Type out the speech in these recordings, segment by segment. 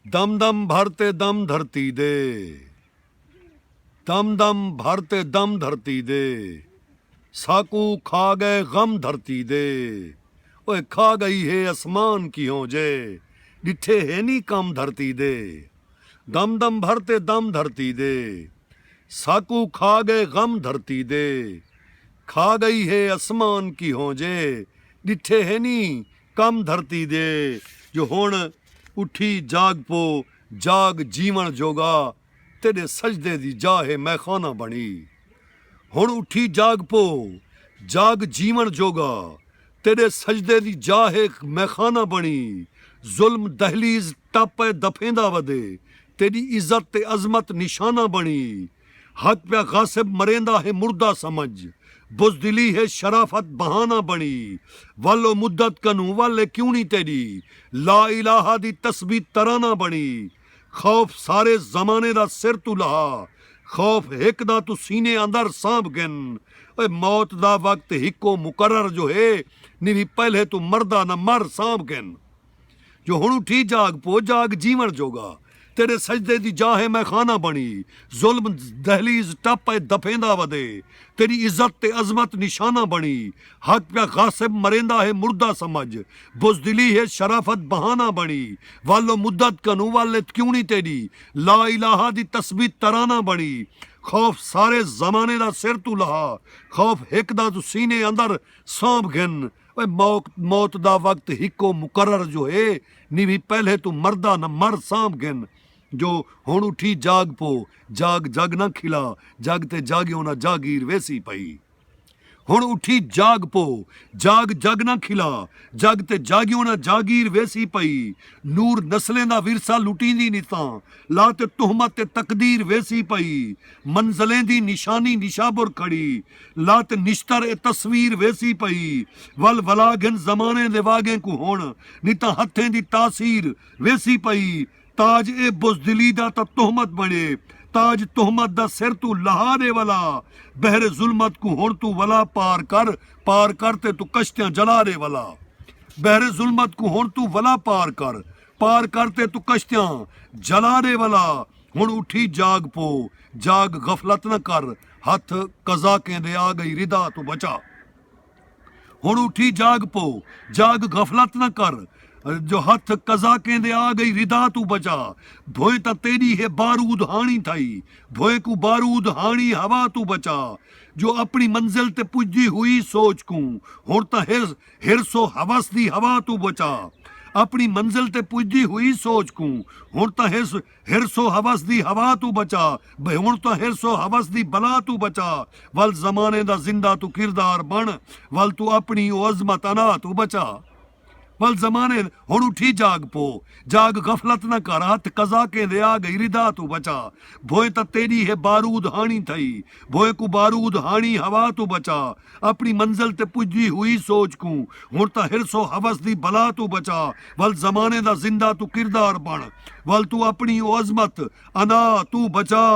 دم دم بھر تے دم دھرتی دے دم دم بھر تے دم دھرتی دے ساکوں کھا گئے غم دھرتی دے اوئے کھا گئی ہے اسمان کیہوں جے ڈٹھے ہے نی کم دھرتی دے دم دم بھر تے دم دھرتی دے ساکوں کھا گئے غم دھرتی دے کھا گئی ہے اسمان کیہوں جے ڈٹھے ہے نی کم دھرتی دے جو ہن اٹھی جاگ پو جاگ جیوݨ جوڳا تیݙے سجدے دی جاہ ہے میخانہ بݨی ہن اٹھی جاگ پو جاگ جیوݨ جوڳا تیݙے سجدے دی جاہ ہے میخانہ بݨی ظلم دہلیز ٹپ ء دفیندا ودے تیݙی عزت تے عظمت نشانہ بݨی۔ حق پیا غاصب مریندا ہے مردہ سمجھ بزدلی ہے شرافت بہانہ بنڑی ول او مدت کنوں ول اے کیوں نی تیڈی لا الہا دی تسبیح ترانہ بنڑی خوف سارے زمانے دا سر توں لہا خوف ہک دا توں سینے اندر سانبھ گھن اوئے موت دا وقت ہکو مقرر جو ہے نی وی پہلے توں مردہ نہ مر سانبھ گھن۔ جو ہݨ اٹھی جاڳ پو جاڳ جیوݨ جوڳا تیݙے سجدے دی جاہ اے میخانہ بݨی ظلم دہلیز ٹپ اے دفیندا ودے تیݙی عزت تے عظمت نشانہ بݨی حق پیا غاصب مریندا ہے مردہ سمجھ بزدلی ہے شرافت بہانہ بݨی ول و مدت کنوں ول ات کیوݨی تیݙی لا الہا دی تسبیح ترانہ بݨی خوف سارے زمانے دا سر توں لہا خوف ہک دا توں سینے اندر سانبھ گھن موت دا وقت ہکو مقرر جو ہے نیوی پہلے توں مردا نہ مر سانبھ گھن جو ہن اٹھی جاگ پو جاگ جگ نہ کھلا جگ تے جاگیوں نہ جاگیر ویسی پئی ہن اٹھی جاگ پو جاگ جگ نہ کھلا جگ تے جاگیوں نہ جاگیر ویسی پئی نور نسلیں دا ورثہ لٹیندی نتاں لا تے تہمت تے تقدیر ویسی پئی منزلیں دی نشانی نشابر کھڑی لت نشتر اے تصویر ویسی پئی ول ولا گھن زمانے دے واگیں کوں ہن نی تاں ہتھیں دی تاثیر ویسی پئی تاج اے بزدلی دا تاں تہمت بنڑے تاج تہمت دا سر توں لہا دے ولا بحر ظلمت کوں ہن توں ولا پار کر پار کر تے توں کشتیاں جلا دے ولا بحر ظلمت کوں ہن توں ولا پار کر پار کر تے توں کشتیاں جلا دے ولا۔ ہݨ اٹھی جاڳ پو جاڳ غفلت نہ کر ہتھ قضا کیندے آ ڳئی ردا توں بچا ہݨ اٹھی جاڳ پو جاڳ غفلت نہ کر جو ہتھ قضا کیندے آ ڳئی ردا توں بچا بھوئیں تاں تیݙی ہے بارود ہاݨی تھئی بھوئیں کوں بارود ہاݨی ہوا توں بچا جو اپݨی منزل تے پڄدی ہوئی سوچ کوں ہݨ تاں حرص حرص و حوس دی ہوا توں بچا اپݨی منزل تے پڄدی ہوئی سوچ کوں ہݨ تاں حرص حرص و حوس دی ہوا توں بچا بھئی ہنڑ تاں حرص و حوس دی بلا توں بچا ول زمانے دا زندہ توں کردار بنڑ ول توں اپنڑی او عظمت انا توں بچا ول زمانے ہنڑ اٹھی جاگ پو جاگ غفلت نہ کر ہتھ قضا کیندے آ گئی ردا توں بچا بھوئیں تاں تیڈی ہے بارود ہانڑی تھئی بھوئیں کوں بارود ہانڑی ہوا توں بچا اپݨی منزل تے پڄدی ہوئی سوچ کوں ہݨ تاں حرص و حوس دی بلا توں بچا ول زمانے دا زندہ توں کردار بݨ ول توں اپݨی او عظمت انا توں بچا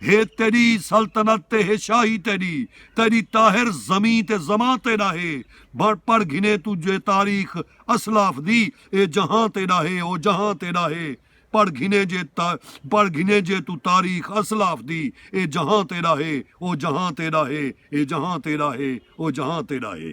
ہے تیݙی سلطنت تے ہے شاہی تیݙی تیݙی طاہر زمیں تے زماں تیݙا ہے بݨ پڑھ گھنے توں جے تاریخ اسلاف دی اے جہاں تیݙا ہے او جہاں تیݙا ہے پڑھ گھنے جے تا پڑھ گھنے جے توں تاریخ اسلاف دی اے جہاں تیڈا ہے او جہاں تیڈا ہے اے جہاں تیڈا ہے او جہاں تیڈا ہے۔